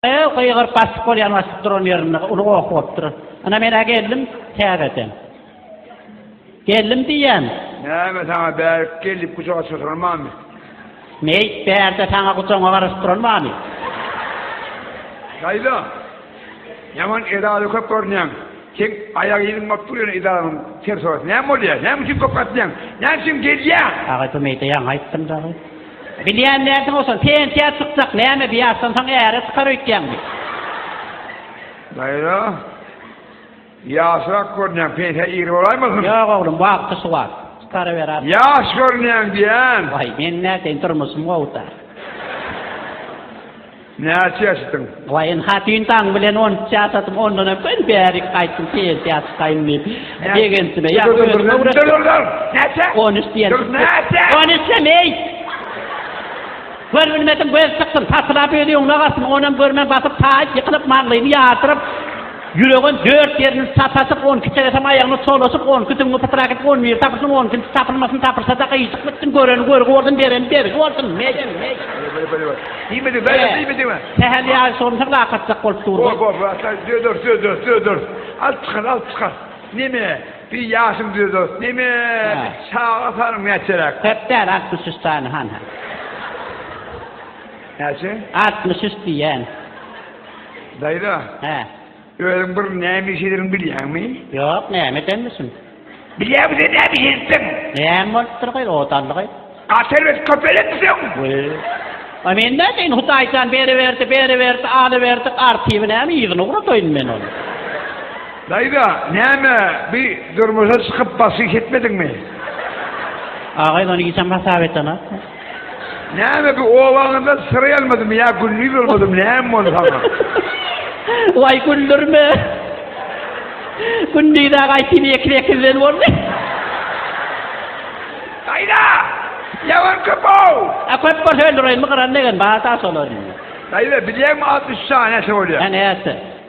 Öe, gygyryp basyp bolýan basyp duran ýerinde uly goh bopdur. Ana men-ä geldim täzeden. Geldim diýýän. Näme saňa bärik gelip gujaga çykyran bamy? Meý, bärde saňa gujagyňa garaşyp duran bamy? Daýza, ýaman edara köp görünýäň. Seň aýak yzyň bop dur ýöne edaranyň serhoýasy näme bolýa? Näme üçin köp gatnaýaň? Näme üçin gelýäň? Agay bu meýde ýaňy aýtdym dagy. Bilýän dälsiň owsan, pensiýa çykjak, näme bir ýaşdan soň äre çykar öýtýäňmi? Naýra, ýaşrak görünýäň, pensiýa ir bolaýmasyn? Ýok oglum, wagty şu wagt, çykaryberaýin. Ýaş görünýäň diýýän. Waý, meň näteyýin, durmuşym gowy-da. Näçe ýaşdyň? Gaýyn hatyn daň bilen on üç ýaşadym, ondanam men bärik gaýtdym, pensiýa çykaýyn diýip, begenjime ýagyp özümi öwretdim. Näçe? On üç diýen çykyp gitdi. On üç näme, eý! Görbilmedim, göz çyksyn, patylap özi öňüne galsyn, onam görmän basyp, taýyp, ýykylyp, maňlaýyny ýardyryp, ýüregem dört ýerini sataşyp, on iki çegesem aýagyna çolaşyp, on iki düňňi pytyrak edip, on biri tapylsyn, on ikinjisi tapylmasyn, tapylsa-da gyýjyk bitsin, göreni görgi bolsun, bereni bergi bolsun, meý! Diýmedi, bäýle diýmedi mi? Sähel ýaly şonçalar akatjak bolup durdy. Bor, bor, bor, döder, döder, döder. Alyp çykar, alyp çykar. Neme, bir ýaşym döder. Neme, çaga sanyň näçeräk? Köp däl, altmyş üç sany, han, han. Näçe? Altmyş üç diýýän. Daýza. Hä. Özüň bir näme iş ederin bilýäňmi? Ýok, näme edenmişim? Bilýäňmi sen näme iş edipsiň? Näme bolupdyr gaý, ot aldy gaý. At erbet köp elenmisiň? Wee. A men nädeýin, Hudaý jan beriberdi, beriberdi, alyberdi, artyby näme, yzyna ugradaýyn men ony. Daýza, näme, bi durmuşa çykyp basyş etmediňmi? A gaýyn, ony giçem hasap etana. Näme bu owaňyzda syr ýalmadymy ýa gündiz bolmadymy näme boldy saňa? Waý güldürme. Gündiz-ä gaýtyn ýeke sekizden boldy. Daýza! Ýawan köp-ow! A köp bolsa öldüreýinmi gyran degen bar-da şolary. Daýza bilýäňmi altmyş üçe näçe bolýar? Näçe?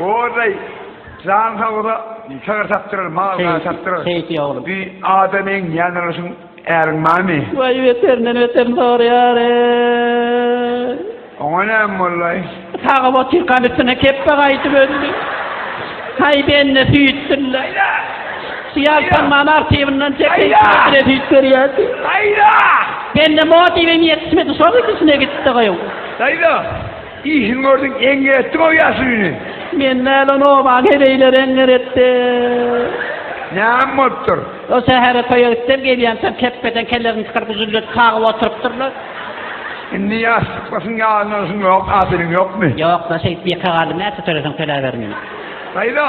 Oday jan sag ola sygyr satdyrar mal gaz satdyrar Keýik ýa oglum. bir adam eň ýanalaşyň äriň barmy? Waý beterinden beterini sorýar eý. Oňa näme bollaý? Sagyp otyrkam üstüne kepbe gaýdyp öldü. Haý bende süýt dylla. Şu ýaltanman artiwyndan çekseň bire süýt berýärdi. Daýza! Bende motiwim ýetişmedi şol ikisine gitdi gyw. Daýza! Işin gördüň eňňer etdiň-ow ýaşuly ine. Men nälen oba geleýler eňňer etdim. Näme bolupdyr? O sähere toýa gitdim, gelýämsoň kepbeden kellerini çykaryp üzüldirip kagyp oturypdyrlar. Indi ýassyklysyň ýadyna alşyň ýok, hatyryň ýokmy? Ýok-la, şeýdip ýeke galdym, näçe töleseň töläber meni. Haýda.